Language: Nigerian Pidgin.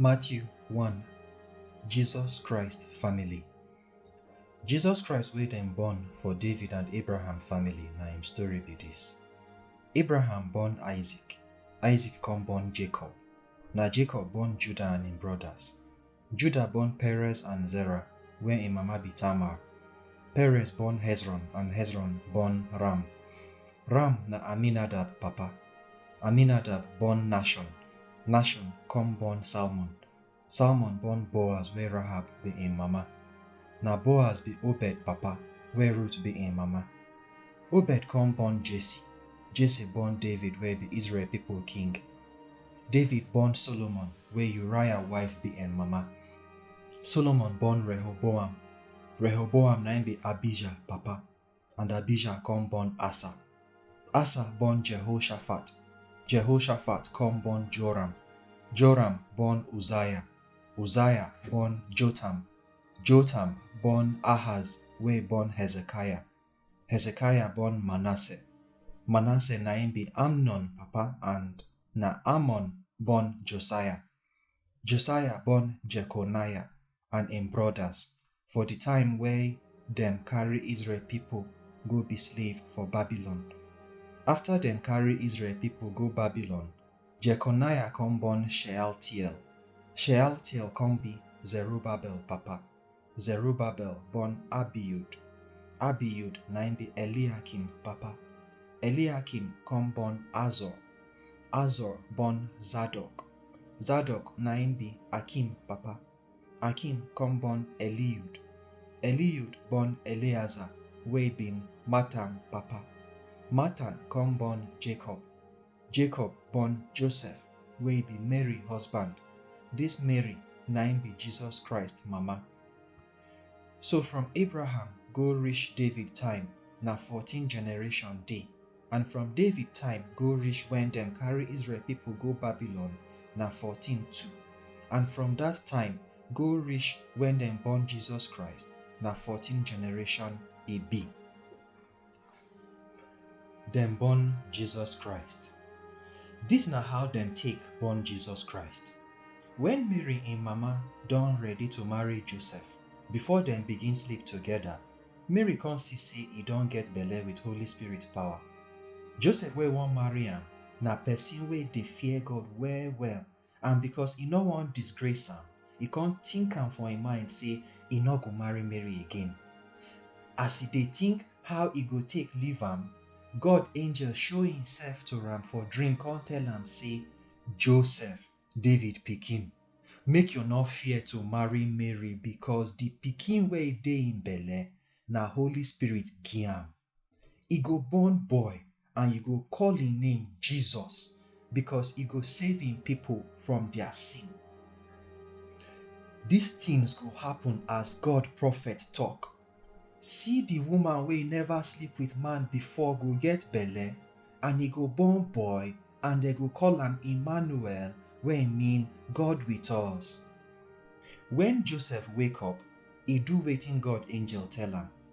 Matthew 1 Jesus Christ family Jesus Christ wey dem born for David and Abraham family na im story be dis. Abraham born Isaac, Isaac come born Jacob, na Jacob born Judah and im brothers. Judah born Perez and Zerah, where im mama be Tamar. Perez born Hezron and Hezron born Ram. Ram na Aminadab papa. Aminadab born Nashon. Nashon come born Salmon. Salmon born Boaz where Rahab be im mama. Na Boaz be Obed papa where Ruth be im mama. Obed come born Jesse. Jesse born David where be Israel people king. David born Solomon, where Uriah wife be en mama. Solomon born Rehoboam. Rehoboam na im be Abijah papa, and Abijah come born Asa. Asa born Jehoshaphat. Jehoshaphat come born Joram. Joram born Uzziah. Uzziah born Jotham. Jotham born Ahaz, wey born Hezekiah. Hezekiah born Manasseh. Manasseh na im be Amnon papa and na Amon born Josiah. Josiah born Jeconiah and im brothers for di time wey dem carry Israel pipo go be slave for Babylon. Afta dem carry Israel pipo go Babylon, Jeconiah come born Shealtiel. Shealtiel come be Zerubbabel papa. Zerubbabel born Abiud. Abiud na im be Eliakim papa. Eliakim come born Azor. Azor born Zadok. Zadok na im be Akim papa. Akim come born Eliud. Eliud born Eleazar wey be Matan papa. Matan come born Jacob. Jacob born Joseph wey be Mary husband. This Mary na im be Jesus Christ mama. So from Abraham go reach David time na fourteen generation dey and from David time go reach when dem carry Israel people go Babylon na fourteen too and from that time go reach when dem born Jesus Christ na fourteen generation e be. Dem born Jesus Christ. Dis na how dem take born Jesus Christ. Wen Mary im mama don ready to marry Joseph, before dem begin sleep togeda, Mary come see sey e don get belle wit Holy Spirit power. Joseph wey wan marry am na pesin wey dey fear God well-well And because e no wan disgrace am, e come think am for im mind say e no go marry Mary again. As e dey think how e go take leave am, God angel show imself to am for dream come tell am say, Joseph, David pikin, make you no fear to marry Mary because the pikin wey dey im belle na Holy Spirit give am. E go born boy and you go call im name Jesus because e go save im people from their sin. These things go happen as God prophet talk. See the woman wey never sleep with man before go get belle and e go born boy and dem go call am Emmanuel wey mean God with us. When Joseph wake up, e do wetin God angel tell am.